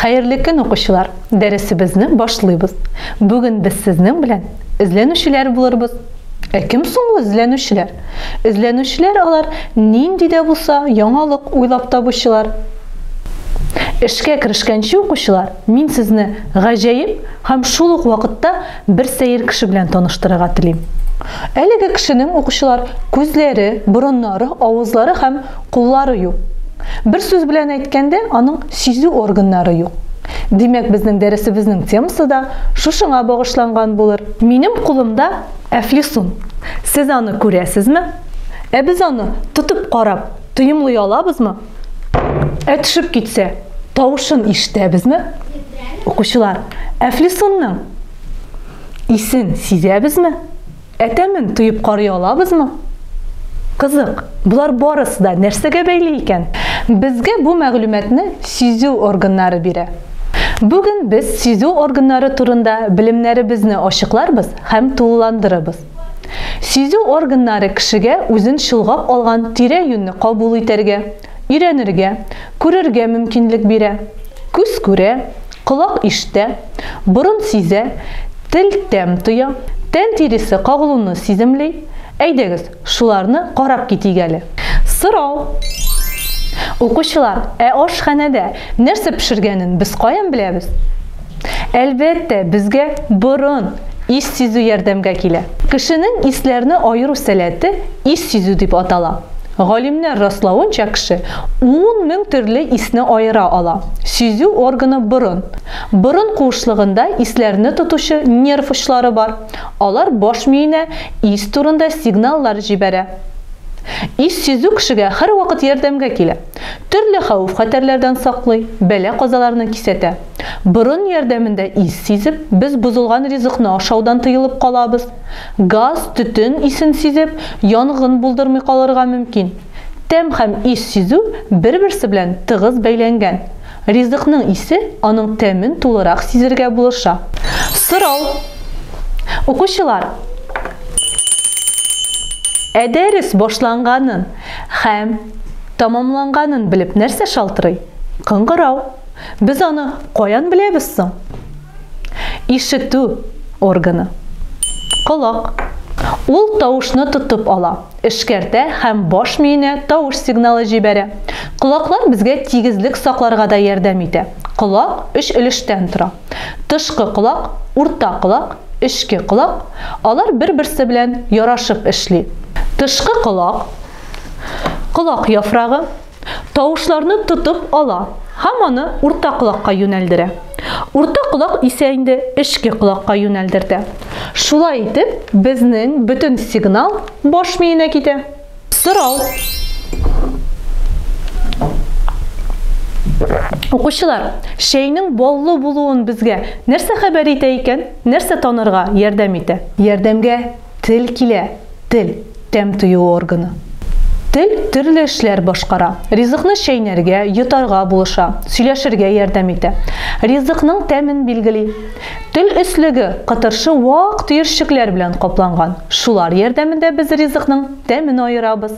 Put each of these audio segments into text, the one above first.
Хәерле көн, укучылар! Дәресебезне башлыйбыз. Бүген без сезнең белән эзләнүчеләр булырбыз. Ә кем соң ул эзләнүчеләр? Эзләнүчеләр алар нинди дә булса яңалык уйлап табучылар. Эшкә керешкәнче, укучылар, мин сезне гаҗәеп һәм шул ук вакытта Бер сәер кеше белән таныштырырга телим. Әлеге кешенең, укучылар, күзләре, борыннары, авызлары һәм куллары юк. Бер сүз белән әйткәндә, аның сизү органнары юк. Димәк, безнең дәресебезнең темасы да шушыңа багышланган булыр. Минем кулымда әфлисун. Сез аны күрәсезме? Ә без аны, тотып карап, тоемлый алабызмы? Ә төшеп китсә, тавышын ишетәбезме? Укучылар, Әфлисунның исен сизәбезме? Әтәмен тоеп карый алабызмы? Кызык, болар барысы да нәрсәгә бәйле икән? Безгә бу мәгълүматны сизү органнары бирә. Бүген без сизү органнары турында белемнәребезне ачыкларбыз һәм тулыландырырбыз. Сизү органнары кешегә үзен чолгап алган тирә-юньне кабул итәргә, өйрәнергә, күрергә мөмкинлек бирә. Күз күрә, колак ишетә, борын сизә, тел тәм тоя, тән тиресе кагылуны сиземли. Әйдәгез, шуларны карап китик әле. Сорау. Укучылар, ә ашханәдә нәрсә пешергәнен без каян беләбез? Әлбәттә, безгә борын, ис сизү ярдәмгә килә. Кешенең исләрне аеру сәләте ис сизү дип атала. Галимнәр раславынча, кеше ун мең төрле исне аера ала. Сизү органы борын. Борын куышлыгында исләрне тотучы нерв очлары бар. Алар баш миенә ис турында сигналлар җибәрә. Ис сизү кешегә һәрвакыт ярдәмгә килә. Төрле хәвеф-хәтәрләрдән саклый, бәла-казаларны кисәтә. Борын ярдәмендә ис сизеп, без бозылган ризыкны ашаудан тыелып калабыз. Газ, төтен исен сизеп, янгын булдырмый калырга мөмкин. Тәм һәм ис сизү бер-берсе белән тыгыз бәйләнгән. Ризыкның исе аның тәмен тулырак сизергә булыша. Сорау. Укучылар! Ә дәрес башланганын һәм тәмамланганын белеп нәрсә шалтырый? Кыңгырау. Без аны каян беләбез соң? Ишетү органы. Колак. Ул тавышны тотып ала, эшкәртә һәм баш миенә тавыш сигналы җибәрә. Колаклар безгә тигезлек сакларга да ярдәм итә. Колак өч өлештән тора. Тышкы колак, урта колак, эчке колак. Алар бер-берсе белән ярашып эшли. Тышкы колак, колак яфрагы, тавышларны тотып ала һәм аны урта колакка юнәлдерә. Урта колак исә инде эчке колакка юнәлдертә. Шулай итеп, безнең бөтен сигнал баш миенә китә. Сорау. Укучылар, чәйнең баллы булуын безгә нәрсә хәбәр итә икән? Нәрсә танырга ярдәм итә? Ярдәмгә Тел килә, тел, тәм тою органы. Тел төрле эшләр башкара. Ризыкны чәйнәргә, йотарга булыша, сөйләшергә ярдәм итә. Ризыкның тәмен билгели. Тел өслеге кытыршы вак төерчекләр белән капланган. Шулар ярдәмендә без ризыкның тәмен аерабыз.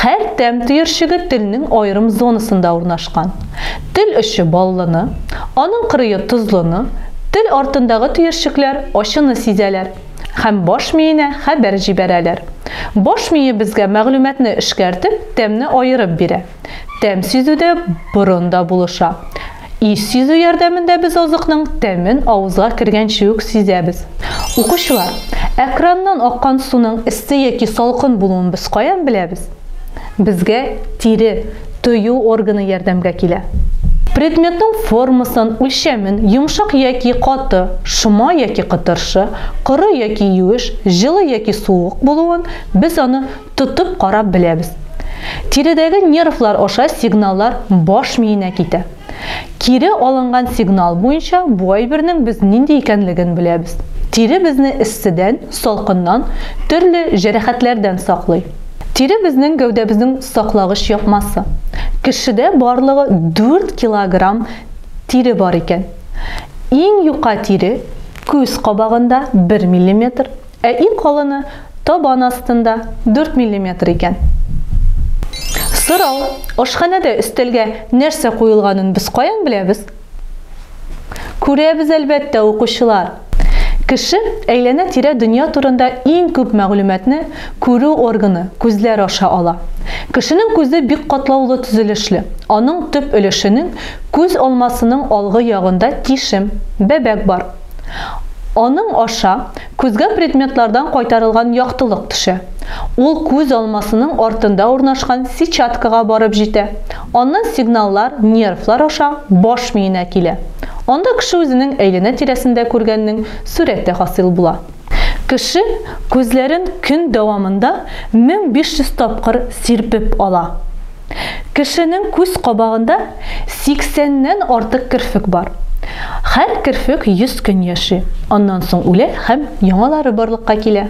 Һәр тәм төерчеге телнең аерым зонасында урнашкан. Тел очы баллыны, аның кырые тозлыны, тел артындагы төерчекләр ачыны сизәләр. һәм баш миенә хәбәр җибәрәләр. Баш мие безгә мәгълүматны эшкәртеп, тәмне аерып бирә. Тәм сизүдә борын да булыша. Ис сизү ярдәмендә без азыкның тәмен авызга кергәнче үк сизәбез. Укучылар, экраннан аккан суның эссе яки салкын булуын без каян беләбез? Безгә тире, тою органы ярдәмгә килә. Предметның формасын, үлчәмен, йомшак яки каты, шома яки кытыршы, коры яки юеш, җылы яки суык булуын без аны тотып карап беләбез. Тиредәге нервлар аша сигналлар баш миенә китә. Кире алынган сигнал буенча бу әйбернең без нинди икәнлеген беләбез. Тире безне эсседән, салкыннан, төрле җәрәхәтләрдән саклый. Тире безнең гәүдәбезнең саклагыч япмасы. Кешедә барлыгы 4 килограмм тире бар икән. Иң юка тире, күз кабагында, 1 миллиметр, Ә иң калыны табан астында, 4 миллиметр икән. Сорау, ашханәдә өстәлгә нәрсә куелганын без каян беләбез? Күрәбез, әлбәттә, укучылар! Кеше әйләнә-тирә дөнья турында иң күп мәгълүматны күрү органы, күзләр аша ала. Кешенең күзе бик катлаулы төзелешле, аның төп өлешенең күз алмасының алгы ягында тишем, бәбәк бар. Аның аша күзгә предметлардан кайтарылган яктылык төшә. Ул күз алмасының артында урнашкан сетчаткага барып җитә. Аннан сигналлар нервлар аша баш миенә килә. Анда кеше үзенең әйләнә-тирәсендә күргәннең сурәте хасил була. Кеше күзләрен көн дәвамында 1500 тапкыр сирпеп ала. Кешенең күз кабагында 80 нән артык керфек бар. Хәр керфек 100 көн яши, аннан соң үлә һәм яңалары барлыкка килә.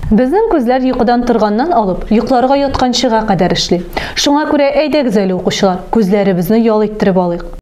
Безнең күзләр йокыдан торганнан алып, йокларга ятканчыга кадәр эшли. Шуңа күрә әйдәгез әле, укучылар, күзләребезне ял иттереп алыйк.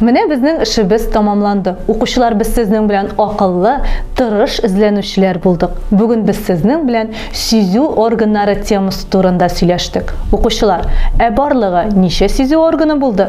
Менә безнең эшебез тамамланды. Укучылар без сезнең белән акыллы, тырыш эзләнүчеләр булдык. Бүген без сезнең белән сизү органнары темасы турында сөйләштек. Укучылар, ә барлыгы ничә сизү органы булды?